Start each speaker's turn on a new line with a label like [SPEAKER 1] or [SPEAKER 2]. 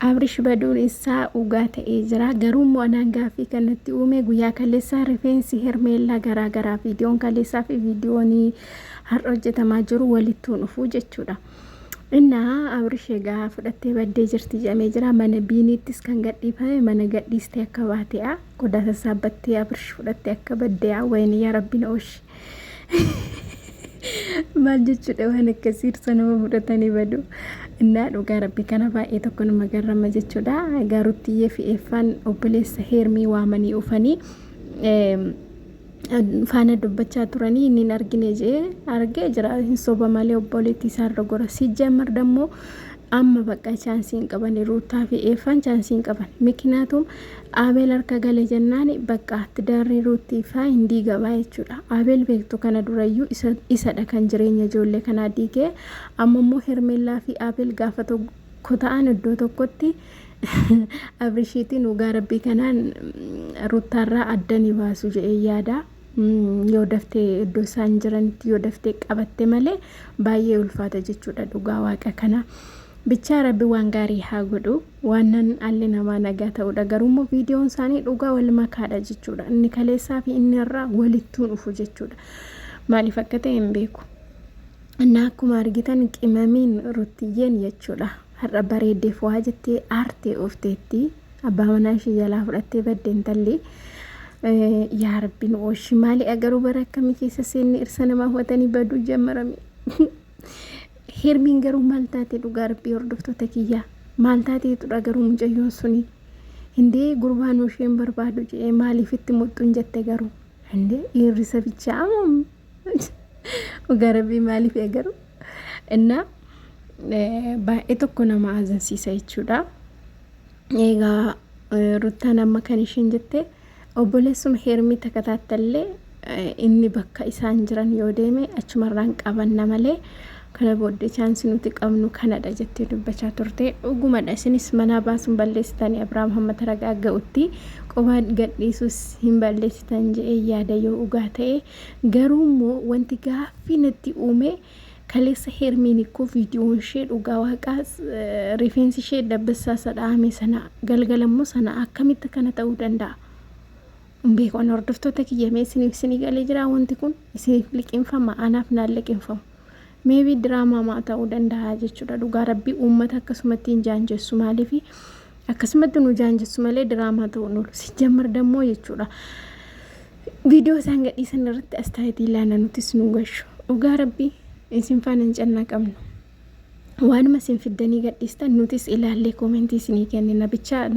[SPEAKER 1] Abrish baduun issaa ugaa ta'ee jiraa garuu immoo anaan gaaffii kan natti uumee guyyaa kaleessaa rifeensi hermeellaa garaa garaa viidiyoon kaleessaa fi viidiyoon har'a hojjetamaa jiru walittuu dhufuu jechuudha innaa abrish egaa fudhattee baddee jirti jedhamee jira mana biiniittis kan gadhiifame mana gadhiistee akka baate'a qodaa sassaabbattee abrish fudhattee akka badde'a wayni yaa rabbiin ooshi maal jechuudha waan akkasii irsa nama mudhatanii badu innaa dhugaa rabbi kana baay'ee tokko nama garrama jechuudha gaaruttiyee fi eeffaan obboleessa heermii waamanii ufanii faana dubbachaa turanii inni hin argine jee argee jira hin soba malee obboleettii isaarra gora si jammar dammoo amma bakka chaansiin qaban ruutaa fi eeffaan chaansiin qaban mikinaatuun Abeel harka gale jennaan baqqa tidaarri Ruuttii faa hin diigama jechuudha. Abeel beektu kana durayyuu isa, isadha kan jireenya ijoollee kanaa diige. Amma immoo Hermeellaa fi Abeel gaafa tokko ta'an iddoo tokkotti Abrishiitiin dhugaa rabbii kanaan Ruuttaarraa adda ni baasu jedhee yaada. Mm, Yoo daftee iddoo isaan jiranitti yoo daftee qabatte malee baay'ee ulfaata jechuudha dhugaa waaqa kana. Bichaa rabbi waan gaarii haa godhu. Waannan dhalli namaa nagaa ta'uudha. Garuummoo viidiyoon isaanii dhugaa wal makaadha jechuudha. Inni kaleessaa fi inni har'aa walittuu dhufu jechuudha. Maaliif akka ta'e hin beeku. Innaa akkuma argitan qimamiin ruttiyyeen jechuudha. Har'a bareeddee fo'aa jettee aartee oofteetti. Abbaa manaa ishee jalaa fudhattee badde intalli. Yaa rabbiin ooshi maali agaruu bara akkamii keessa seenne irsa namaa hubatanii baduu jammarame. Hermiin garuu maal taate dhugaa rabbii hordoftoota kiyyaa maal taatee tudha garuu mucayyoon suni hindee gurbaan isheen barbaadu jedhee maaliif itti muxxuun jette garuu hindee dhiirrisa bichaa amam dhugaa rabbii maaliif garuu innaa baay'ee tokko nama azansiisa jechuudha eegaa ruttaan amma kan isheen jette. Obboleessuma Heermii takataattalle inni bakka isaan jiran yoo deeme achumarraan qabanna malee kana booddee chaansi nuti qabnu kanadha jettee dubbachaa turte. Dhugumadha isinis manaa baasuun balleessitanii Abiraam hamma taragaa ga'utti qobaa gadhiisuus hin balleessitan je'ee yaada yoo dhugaa ta'e garuu immoo wanti gaaffii natti uume Kaleessa Hermiin ikkoo viidiyoon ishee dhugaa waaqaa rifeensi ishee dabbassaa isa dha'ame sana galgala immoo sana akkamitti akkana ta'uu danda'a? Hin beeku ani hordoftoota kiyya mee isiniif isinii galee jira wanti kun isiniif liqinfama anaaf naan liqinfamu. Meebii diraamaa maa ta'uu danda'a jechuudha dhugaa rabbii uummata akkasumatti hin jaanjessu maaliifi akkasumatti nu jaanjessu malee diraamaa ta'uu nu sijjammar dammoo jechuudha viidiyoo isaan gadhiisan irratti astaayitii ilaana nutis nu gashu dhugaa rabbii isin faana hin cannaa qabnu waanuma isin fiddanii gadhiistan nutis ilaallee koomentii isinii kennina bichaa